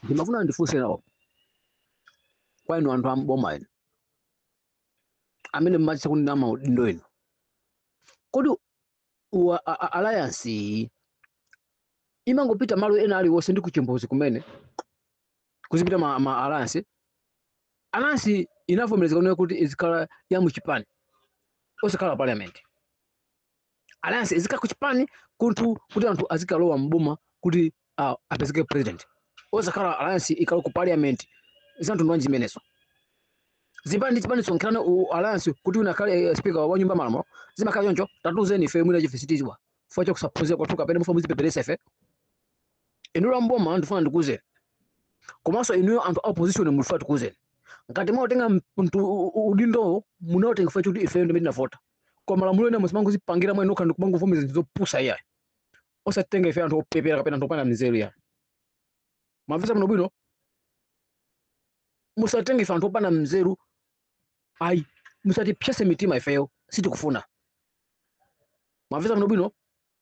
ndimafuna ndifunse nawo kwa inu anthu am'boma inu amene mmachita kunena maudindo inu kodi wa- a- a- alliance iyi imangopita malo ena aliwonse ndi kuchimbudzi komwe kuzipita a, ma alliance alliance inavomerezeka kunena kuti izikhala ya muchipani osakhala parliament alliance izikhala ku chipani kunthu kuti anthu azikalowa mboma kuti uh, apezeke president osakhala alliance ikalowe ku parliament zanthu ndwanji zimenezo zipani chipani kusonkherana alliance kuti wina akhale eh, speaker wa nyumba ya malamulo zimakhala choncho tatuzeni ife mwina chifukwa sitiziwa fo chakusaphunzira kwathu kapena mufuna muzitipeperesa ife inuyo amboma ndifuna ndikuuzeni komanso inuyo anthu a opposition ndifuna ndikuuzeni ngati mwautenga mtu udindo munautenga fo kuti ife ndimene tinavota koma malamulo ena musamangozipangira mwa nokha ndikumangovomereza zinthu zopusa iyayi osatenga ife anthu opepera kapena anthu opanda nzeru iyayi mwamvetsa bwino bwino musatenge ife anthu opanda nzeru ayi musatipsetse mitima ifeyo sitikufuna mwamvetsa bwino bwino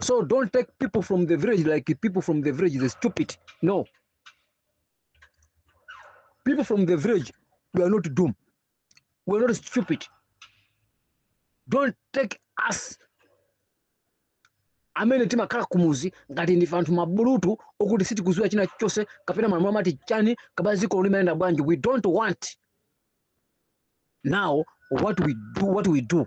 So don't take people from the village like people from the village, they're stupid. No. People from the village, we are not dumb. We are not stupid. Don't take us amene timakhala kumuzi ngati ndife anthu mabulutu okuti sitikuziwa china chilichonse kapena malamulo amati chani kapena dziko limayenda bwanji we don't want now what we do what we do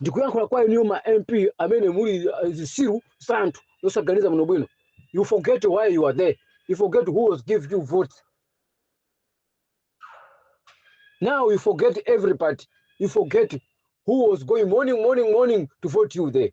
ndikuyankhula kwa inuyo ma mp amene muli uh, zisiru za anthu zosaganiza bwino bwino you forget why you are there you forget who was give you vote now you forget everybody you forget who was going morning morning morning to vote you there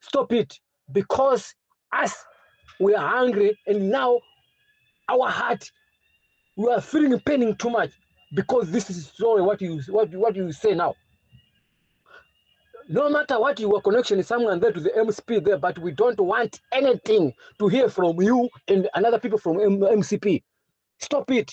stop it because us we are hungry and now our heart we are feeling paining too much because this is sorry what you what, what you say now no matter what your connection is someone there to the mcp there but we don't want anything to hear from you and another people from M- mcp stop it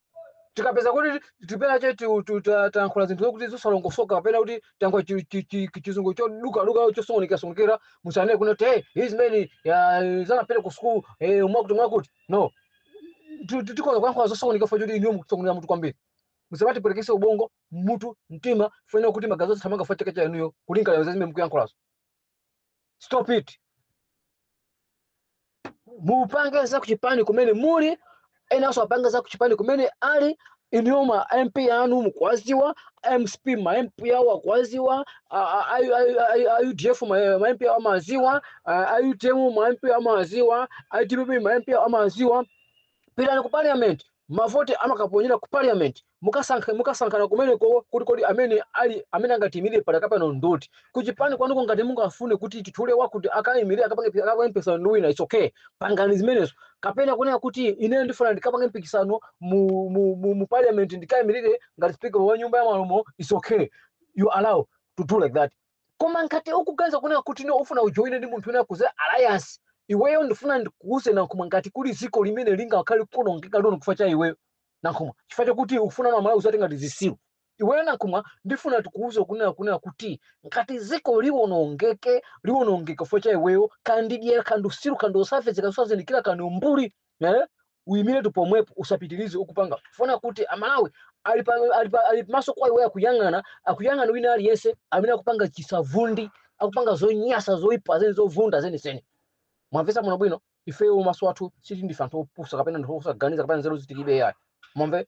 tikapezeka kuti tipena che ti- ti- ta- tayankhula zinthu zokuti zosalongosoka kapena kuti tayankhula chi- chi- chi- chizungu chodukaduka chosokonekerasokonekera musanene kunena kuti hey, hizi mene uh, sanapita ku school eh, mwakuti mwakuti no Ti- ti- tikoza kuyankhula zosokoneka fo choti inuyo mukusokoneza mutu kwambiri musamatipwetekese ubongo mutu mtima kunena kuti magazi athamanga fo chifukwa cha inuyo kulingalira zazimene mukuyankhulazo stop it mupange za kuchipani kumene muli enanso apange za kuchipani kumene ali inuyo ma mp anu mukuwaziwa mcp ma mp awo akuwaziwa udf ma mp awo amaziwa utm ma mp awo amaziwa dpp ma mp awo amaziwa pitani ku parliament mavoti amakaponyera ku parliament mukasankhe mukasankhana kumeneko kuti kodi amene ali amene angatiimire padakapano ndi uti kuchipani kwanuko ngati mungafune kuti titule wakuti akaimire akapange akapange mpikisano ndi wina it's okay pangani zimenezo kapena kunena kuti ineyo ndifuna ndikapange mpikisano mu, mu, mu, mu parliament ndikaimirire ngati speaker wa nyumba ya malamulo it's okay you allow to do like that Koma ngati ukuganiza kunena kuti ineyo ufuna ujowine ndi munthu wina kudzera alliance, iweyo ndifuna ndikuuze Nankhumwa ngati kuli ziko limene lingakhale likuonongeka lino chifukwa cha iweyo Nankhumwa chifukwa chokuti ukufuna ana amalawi uziwatenga ngati zisiru. Iweyo Nankhumwa ndifuna tikuuze kunena kunena kuti ngati ziko liwonongeke liwonongeka chifukwa cha iweyo kaya ndi dyera kaya ndi usiru kaya ndi osafedzeka osazindikira kaya ndi umbuli eh? uimiretu pomwepo usapitirize ukupanga chifukwa choti amalawi ali pa- ali pa- ali maso kwa iweyo akuyang'ana akuyang'ana wina aliyense amene akupanga chisavundi akupanga zonyasa zoipa zeni zovunda zenizeni mwamvesa bwinobwino ifeyo maso athu sikuti ndife anthu opusa kapena anthu osaganiza kapena nzeru zitilibe yayi mwamve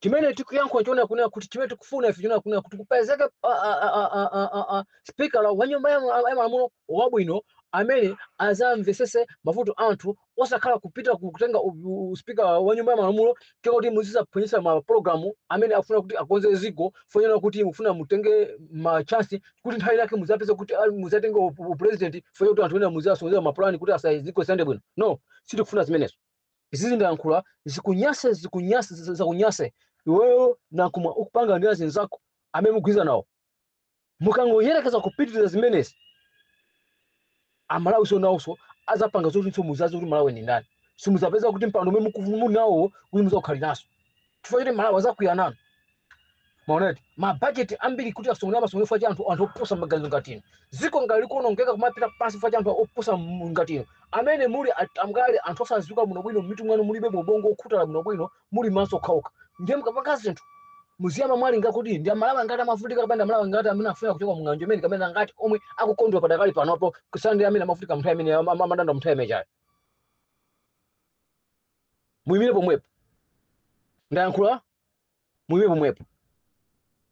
chimene tikuyankhula nchonena kunena kuti chimene tikufuna ife nchonena kunena kuti kupezeke spika wa nyumba ya ma- ya malamulo wabwino amene azamvesese mavuto a anthu osakhala kupita ku- kutenga u- u- spika wa nyumba ya malamulo kuti muzizaphonyesa mapulogalamu amene afuna kuti akonze ziko chifukwa chonena kuti mufuna mutenge machansi kuti nthawi yake muzapeza kuti ah, muzatenge u- u- upulezidenti chifukwa chonena kuti anthu ena muzasokoneza mapulani kuti za ziko zisayende bwino no sitikufuna zimenezo izizi ndayankhula zikunyase zikunyase za- zakunyase iweyo Nankhumwa ukupanga ndi azinzako amene mugwirizana nawo mukangoyerekeza kupitiriza zimenezi amalawi nso nawonso azapanga zoti muzaziwe kuti malawi ndi ndani simuzapeza kuti mpando umene mukufu- muli nawowo kuti muzaukhaliranso chifukwa choti amalawi azakwiya nanu mwaona mabajeti ambiri kuti asungulira masungulira chifukwa cha anthu anthu opusa maganizo ngati inu dziko ngati likuonongeka kumapita pansi chifukwa cha anthu opusa m- ngati inu amene muli at- amgali anthu osadziwa bwinobwino m'mitu mwanu mulibe mubongo wokhutala bwinobwino muli maso okhaokha ndiye mukapanga zinthu muziyamba mwalingalira kuti ndi amalawi angati akuvutika kapena ndi amalawi angati amene afuna kuchoka mung'anjo imene kapena angati omwe akukondwa padakali panopo kusiyana ndi amene amavutika mnthawi imene amadandaula mnthawi imeneyo muyimire pomwepo ndayankhula muyimire pomwepo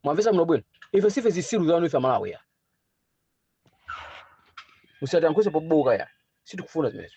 mwamvesa bwinobwino ife sife zisiru zanu ife amalawi ya musatiyankhulise pambuka ya sitikufuna zimenezo